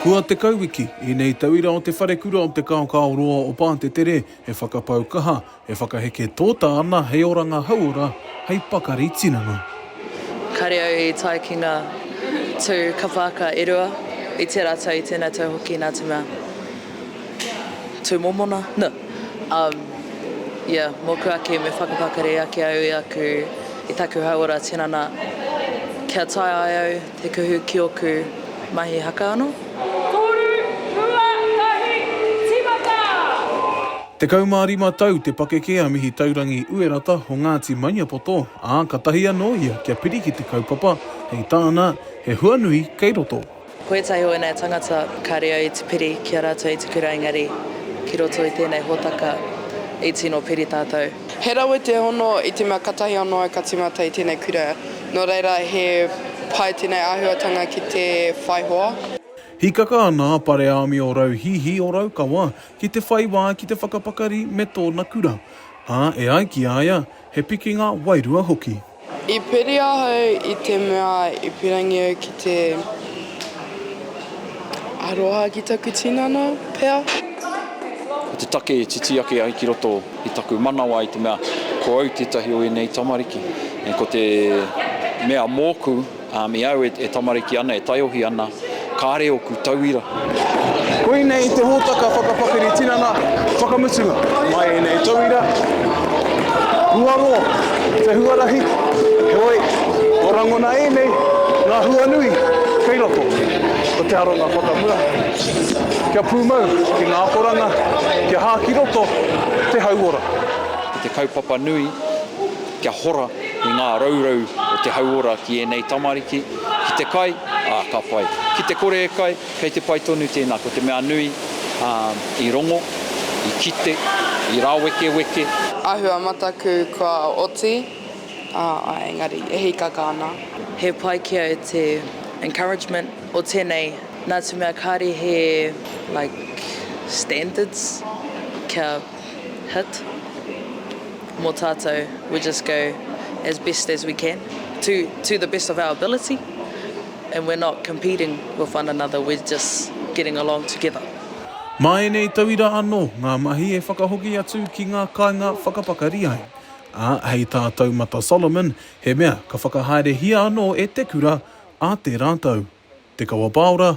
Kua tekau wiki i nei tauira o te wharekura o te kaokao roa o Pātetere e whakapau kaha, e whakaheke tōta ana hei oranga hauora, hei pakari tinana. Kāre au i tae ki ngā tū kawhākā e rua, i tē rātou, i tēnei tau hoki nā te mea, tū mōmona? No. Um, ia, mōku ake me whakapakari ake au i aku, i taku hauora tinana, kia tae ai au, Te kuhu ki oku mahi haka ano. Toru, rua, tahi, timata! Tekau mā rima tau te pakeke a Mihi Taurangi Uerata o Ngāti Maniapoto, ā, ka tahi anō ia kia piri ki te kaupapa, hei tāna, he hua nui kei roto. Ko ētahi o ēnei tangata ka reo i te piri ki a rātou i te kura engari ki roto i tēnei hōtaka i tino piri tātou. He rawe te hono i te mea katahi anō e ka timata i tēnei kura, nō reira he pai tēnei āhuatanga ki te whai hoa. Hīkaka ana a Pareāmi o Rauhihi o Raukawa ki te whai wā ki te whakapakari me tōna kura, ā, e ai ki a ia, he pikinga wairua hoki. I piri ahau i te mea i pirangi au ki te aroha ki taku tinana, pea? Ko te take e titi ake ai ki roto i taku manawa i te mea ko au tētahi o ēnei tamariki, ko te mea mōku. Ami au e tamariki ana, e taiohi ana, kare oku tauira. Koinei te hotaka whakapakari tinana whakamutunga. Mai enei tauira, hua roa te huarahi, heoi, ko rangona enei nga hua nui kei roto. Ko te aronga whakamua, kia pumau ki nga akoranga, kia ha ki roto te hauora. Ko te kaupapa nui. kia hora i ngā raurau o te hauora ki ēnei tamariki, ki te kai, ā, ka pai. Ki te kore e kai, kei te pai tonu tēnā, ko te mea nui, ā, i rongo, i kite, i rāwekeweke. Āhua mataku kua oti, ā, engari e hīkaka ana. He pai kia e te encouragement o tēnei, nā te mea kāre he, like, standards kia. hit mo tatou we just go as best as we can to to the best of our ability and we're not competing with one another we're just getting along together. Mā ēnei tauira anō ngā mahi e whakahoki atu ki ngā kāinga whakapakari ai. Ā, hei tā Taumata Solomon, he mea ka whakahaerehia anō e te kura, ā tērā tau. Te Kawapāora,